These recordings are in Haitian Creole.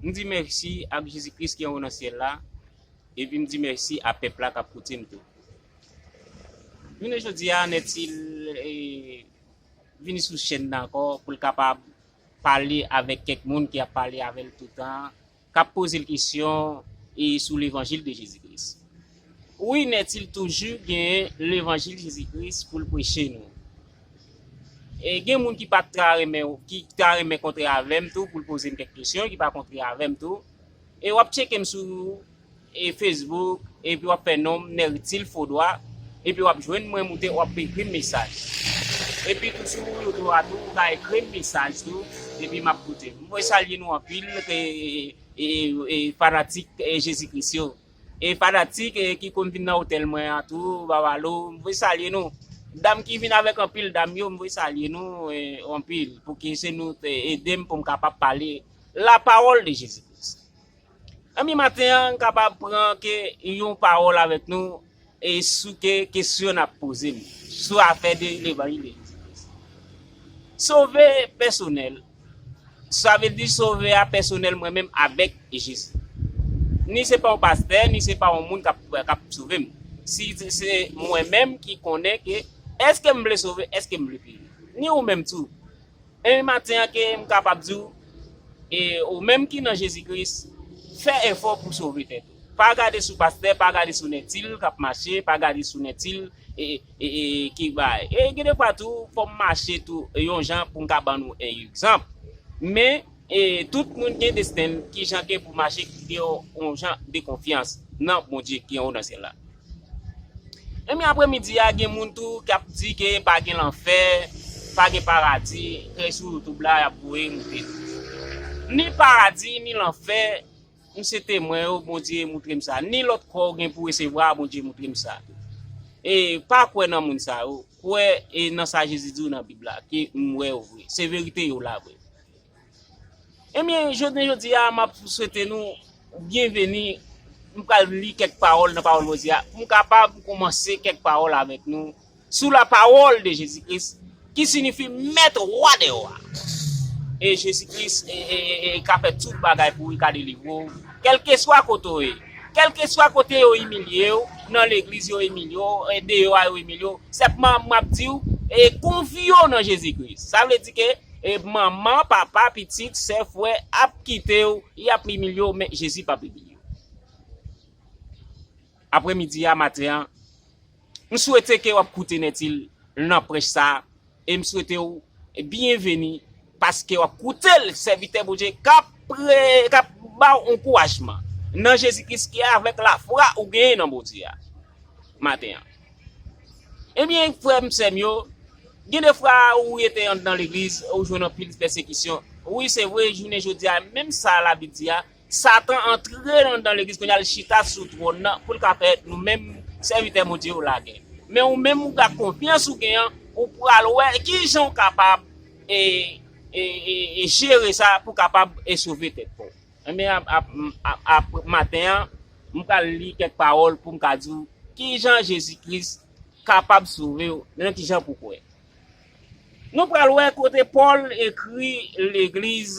M di mèsi ak Jezi Kris ki anwo nan syèl la, epi m di mèsi a pèp la k ap koute m tou. Jounen jodi a, Nètil vini sou chèn nan ankò pou l kapab pale avèk kèk moun ki ap pale avè l toutan, k ap poze l kesyon sou levanjil de Jezi Kris. Wi nèt il toujou gen levanjil Jezi Kris poul preche nou. E gen moun ki pat ka renmen ki ta renmen kontre avèm tou poul pozem kèk kesyon ki pa kontre avèm tou. E wap tchekem sou e Facebook epi wap fè nonm Nertil Fodoua epi wap jwenn mwen moute wap ekrim mesaj. Epi tou sou YouTube a tou ou ka ekrim mesaj tou epi map koute. Mwen salye nou anpil e e fanatik Jezi Kris yo. E fanatik ki konn vin nan otèl mwen an tou Babalo m voye salye nou Dam ki vin avèk anpil dam yo m voye salye nou anpil pouki se nou te ede m pou m kapab pale la pawòl de Jezi Kris Anmyy maten an m kapab pran ke yon pawòl avèk nou E sou ke kesyon nap poze m sou afè de levanjil de Jezi Kris. Sove pèsonèl, sa vle di sove a pèsonèl mwen menm avèk Jezi. Ni se pa yon pastè, ni se pa yon moun kap sove m. Si se mwen menm ki konnen ke eske m vle sove, eske m vle peri. Ni ou menm tou. Ebyen maten an ke m kapab di w, e ou menm ki nan Jezi Kris, fè efò pou sove tèt ou. Pa gade sou pastè pa gade sou nètil kap mache pa gade sou nètil ki bay e gen de fwa tou fòm mache tou yon jan poum ka ban nou e egzanp men e tout moun gen destenl kijan gen pou mache ki gen yon jan de konfyans nan Bondye ki anwo nan syèl la enben aprè midi a gen moun tou kap di ke pa gen lanfè pa gen paradi kèy sou youtube la yap voye moute ni paradi ni lanfè. M se temwen yo bondye moutrem sa ni lot kò ou gen pou resevwa bondye moutrem sa e pa kwè nan moun sa yo kwè e nan sa jezi diw nan bib la ke m wè yo vre se verite yo la vre ebyen jounen jodi a map swete nou byen veni m pral li kèk pawòl nan pawòl bondye a pou m kapab koumanse kèk pawòl avèk nou. Sou la pawòl de Jezi Kris ki sinifi Mèt Wa dè Wa. E Jezi Kris ka fè tout bagay pou ou, li ka delivre ou kèlkeswa kote ou ye. Kèlkeswa kote yo imilye ou, nan legliz yo imilye ou, deyò a yo imilye ou, senpman m ap di ou, konfye ou nan Jezi Kris. Sa vle di ke manman, papa, pitit, sè, frè ap kite ou, y ap imilye ou men Jezi p ap imilye ou. Apre midi a maten an, m swete ke w ap koute Nètil nan prèch sa a, e m swete w byenveni paske w ap koute l, sèvitè Bondye k ap pre, k ap ba w ankourajman nan Jezi Kris ki avèk lafwa ou genyen nan Bondye a maten an. Ebyen, frè m, sè m yo, gen de fwa ou rete anndan legliz, ou jwenn anpil pèsekisyon. Wi, se vre, jounen jodi a, menm sa Labib di a, Satan antre nan nan legliz kounya li chita sou twòn nan poul ka fè nou menm sèvitè Bondye yo lagè. Men ou menm ou gad konfyans ou gen an ou pral wè kijan ou kapab e e e jere sa pou kapab e sove tèt paw. Enben ap ap ap maten an m pral li kèk pawòl poum ka diw kijan Jezi Kris kapab sovew nan kijan pou kwè. Nou pral wè kote Pòl ekri legliz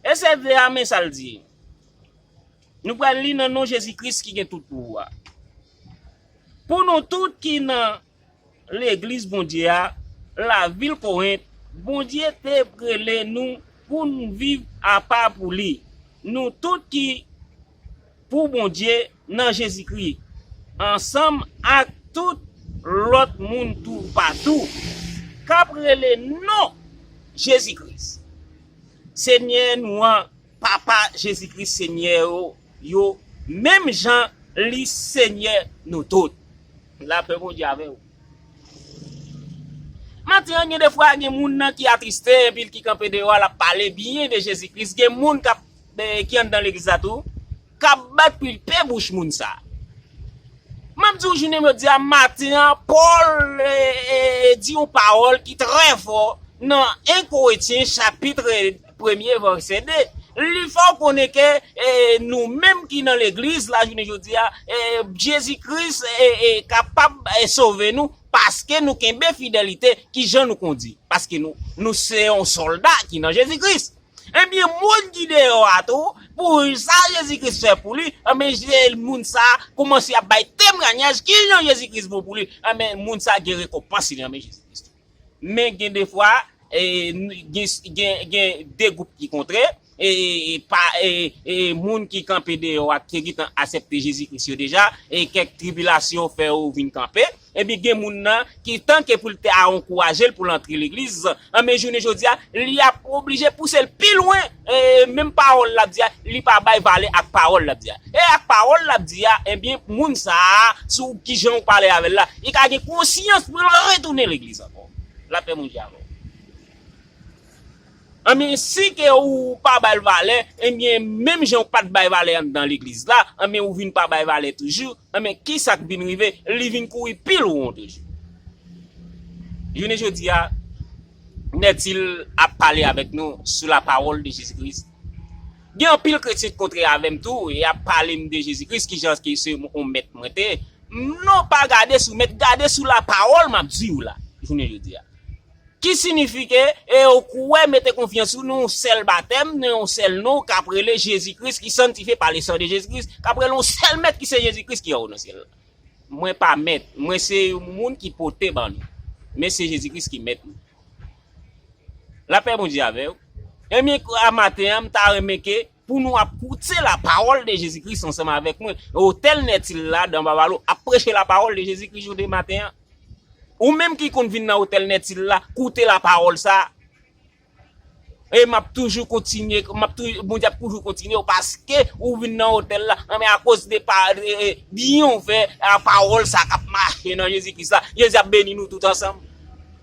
SFV a men sa l di, Nou pral li nan non Jezi Kris ki gen tout pouvwa. Pou nou tout ki nan Legliz Bondye a, lavil Korent, Bondye te prele nou pou n viv apa pou li. Nou tout ki. pou Bondye nan Jezikri, ansanm ak tout lòt moun toupatou k ap rele non Jezi Kris, Senyè nou an, Papa Jezi Kris Senyè ou yo, menm jan li Senyè nou tout. Lapè Bondye avè ou. Maten an, gen de fwa gen moun nan ki atriste, epi l ki kanpe deyò a, l ap pale byen de Jezi Kris, gen moun k ap. Ben ki andan legliz la tou kap bat pui pe bouch moun sa. Map diw jounen jodia maten an Paul di yon pawol ki trè fò nan 1 Koretyen chapitre premye vèsè 2 li fèw konnen ke nou menm ki nan legliz la jounen jodia Jezi Kris kapab sove nou paske nou kenbe fidelite kijan nou kondi paske nou se yon solda ki nan Jezi Kris. Ebyen moun ki deyò a tou pou sa Jezi Kris fè pou li, anben se moun sa a koumanse ap bay temranyaj kijan Jezi Kris bon pou li, anben moun sa a gen rekonpans li anben Jezi Kris tou. Men gen de fwa gen de gwoup ki kontre, moun ki kanpe deyò a ki gentan asepte Jezi Kris yo deja e kèk tribilasyon fè yo vin kanpe, Ebyen gen moun nan ki tanke pou l te a ankouraje l pou l antre legliz, anben jounen jodi a li ap oblije pouse l pi lwen, menm pawòl l ap di a li pa bay valè ak pawòl l ap di a. E ak pawòl l ap di a, ebyen moun sa a sou kijan ou pale avè l la, li ka gen konsyans pou l retounen legliz ankò. Lapè Bondye avè w. Anben si ke ou pa bal valè, enbyen menm jan ou pat bay valè anndan legliz la, anben ou vin pa bay valè toujou, anben kisak vin rive, li vin kouri pi lwon toujou. Jounen jodi a, Nètil ap pale avèk nou sou la pawòl de Jezi Kris. Gen anpil kretyen k kontre avèm tou, e yap pale m de Jezi Kris, kijan ke se yon mèt mwen te ye. Non pa gade sou mèt, gade sou la pawòl map di ou la, jounen jodi a. Ki sinifike, e yo kwè, mete konfyans yo nan yon sèl batèm, nan yon sèl non, kap rele Jezi Kris, ki sanntifye pa lesan de Jezi Kris, kap rele yon sèl Mèt ki se Jezi Kris ki anwo nan syèl la. Mwen pa Mèt, mwen se yon moun ki pote ban nou, men se Jezi Kris ki Mèt nou. Lapè Bondye avè ou. Ebyen, maten an, m ta renmen ke Pou nou ap koute la pawòl de Jezi Kris ansanm avèk mwen, otèl Nètil la, dan Babalo, ap preche la pawòl de Jezi Kris jounen maten an. Ou menm ki konn vin nan otèl Nètil la, koute la pawòl sa a. E m ap toujou kontinye, m ap tou, Bondye ap toujou kontinye w paske ou vin nan otèl la, anben akoz de pa, de byen ou fè a pawòl sa a k ap mache nan Jezi Kris la, Jezi ap beni nou tout ansanm.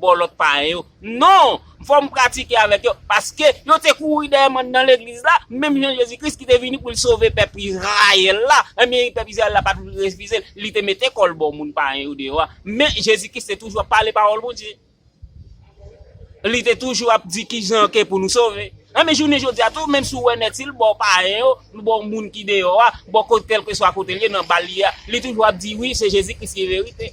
Bòlòt payen yo. Non! M fò m pratike avèk yo, paske yo te kouri dèyè m anndan legliz la, menm jan Jezi Kris ki te vini pou l sove pèp Izrayèl la, enben pèp Izrayèl la pa t refize l, li te mete kò l bò moun payen yo deyò a. Men, Jezi Kris te toujou ap pale pawòl Bondye. Li te toujou ap di ki jan ke pou nou sove. Enben, jounen jodi a tou, menm si w wè Nèt Sil bò payen yo, bò moun ki deyò a, bò kèlkeswa kote l ye, nan bal li a, li toujou ap di, Wi, se Jezi Kris ki verite.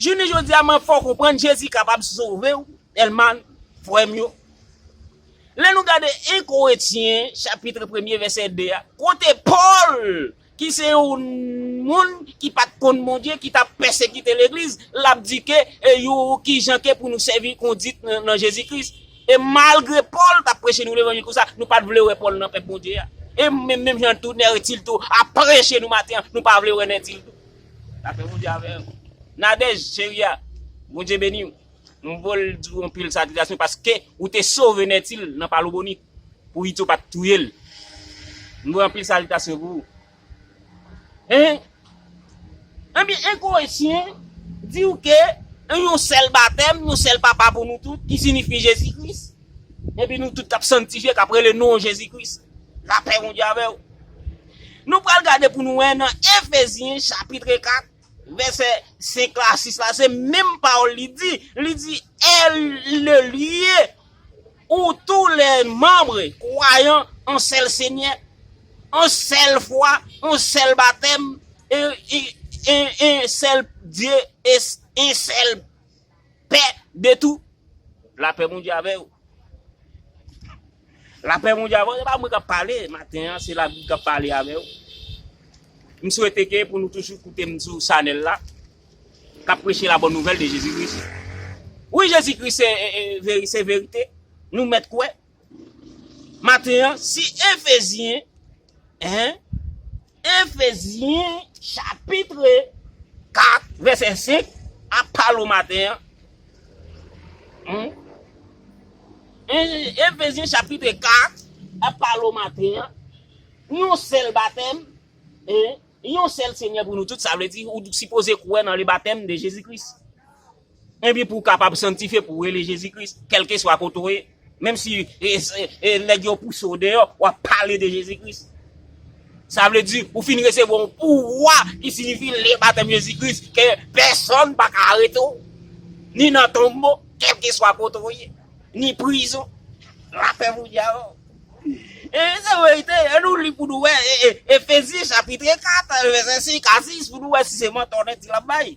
Jounen jodi a mwen fè w konprann Jezi kapab sove w tèlman frè m yo. Lè nou gade 1 Korentyen chapitre premye vèsè 2 a kote Pòl ki se yon moun ki pat konn Bondye ki tap pèsekite legliz lap di ke yon kijan ke pou nou sèvi kondit nan Jezi Kris e malgre Pòl tap preche nou levanjil konsa nou pat vle wè Pòl nan pèp Bondye a e menm jan tou Nètil tou ap preche nou maten an nou pa vle wè Nètil tou. Lapè Bondye avèw Nadège cheri a Bondye beniw m vol diw anpil salitasyon paske ou te sove Nètil nan pa lobonit pou Ito pat touyel m voye anpil salitasyon pou ou hein Ebyen egoyis chen diw ke yon sèl batèm yon sèl papa pou nou tout ki sinifye Jezi Christ. Epi nou tout kap sanktifye kap rele non Jezi Kris. Lapè Bondye avèw. Nou pral gade pou nou wè nan Efezyen chapitre 4 vèsè 5 la 6 la se menm pawòl li di, li di el ne lie ou tou le manbre kwayan an sèl senyè, an sèl fwa, an sèl batèm, en en en sèl Dye, en sèl. Pè de tou La pè Bondye avè ou La pè Bondye avè ou se pa mwen kap pale maten an se la bib kap pale avè ou m swete ke pou nou toujou koute m sou chanèl la kap preche la bòn nouvèl de Jezi Kris wi Jezi Kris se verite nou mèt kwè Maten an, si Efezyen, 1. Efezyen chapitre 4 vèsè 5 ap pale w maten an, 1. Efezyen chapitre 4 ap pale w maten an, yon sèl batèm, 1. Yon sèl Senyè pou nou tout, sa vle di ou sipoze kwè nan le batèm de Jezi Kris. Ebyen pou w kapab sanktifye pou w rele Jezi Kris kèlkeswa kote w ye, menm si nèg yo pouse w deyò, w ap pale de Jezi Kris. Sa vle di ou fin resevwa yon pouvwa ki sinifi lè batèm Jezi Kris ke pèsonn pa ka arete w, ni nan tonbo, kèlkeswa kote w ye, ni prizon. Lapè Bondye avè w. E se verite, an nou li pou nou wè Efesyen chapitre 4 vèsè 5 a 6 pou nou wè si se mantò nèg ti la ap bay.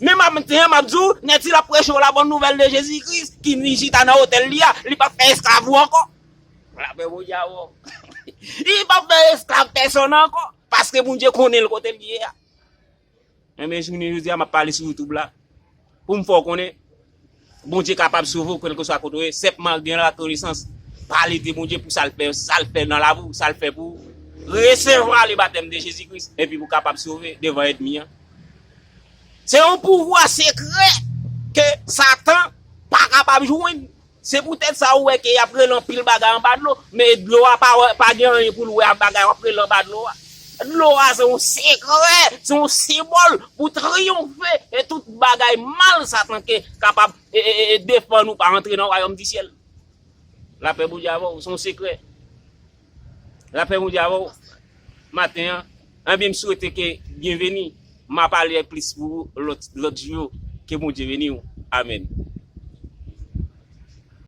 Men maten an, m ap di w, nèg si l ap preche w labòn nouvèl de Jezi Kris, ki vin chita nan otèl li a, li p ap fè esklav ou ankò. Lapè Bondye avè w. Li p ap fè esklav pèsonn ankò, paske Bondye konnen l kote l ye a. Enben, jounen jodi a, m ap pale sou YouTube la, pou m fè w konnen. Bondye kapab sove w kelkeswa kote w ye, senpman gen lakonesans, pale de Bondye pou sa l fè, sa l fè nan lavi w, sa l fè pou ou. Resevwa le batèm de Jezi Kris epi pou kapab sove devan èdmi an. Se yon pouvwa sekrè ke satan pa kapab jwenn. Se poutèt sa ou wè ke y ap rele anpil bagay anba dlo, men dlo a pa gen anyen pou l wè ak bagay w ap rele anba dlo a. Dlo a se yon sekrè, se yon senbòl pou triyonfe e tout bagay mal Satan ke kapab defann ou pa antre nan wayòm di syèl. Lapè Bondye avè w, se yon sekrè. Lapè Bondye avè w maten an. Ebyen m swete ke byenveni, m a pale plis pou ou lòt jou yo. Ke Bondye beni w. Amen.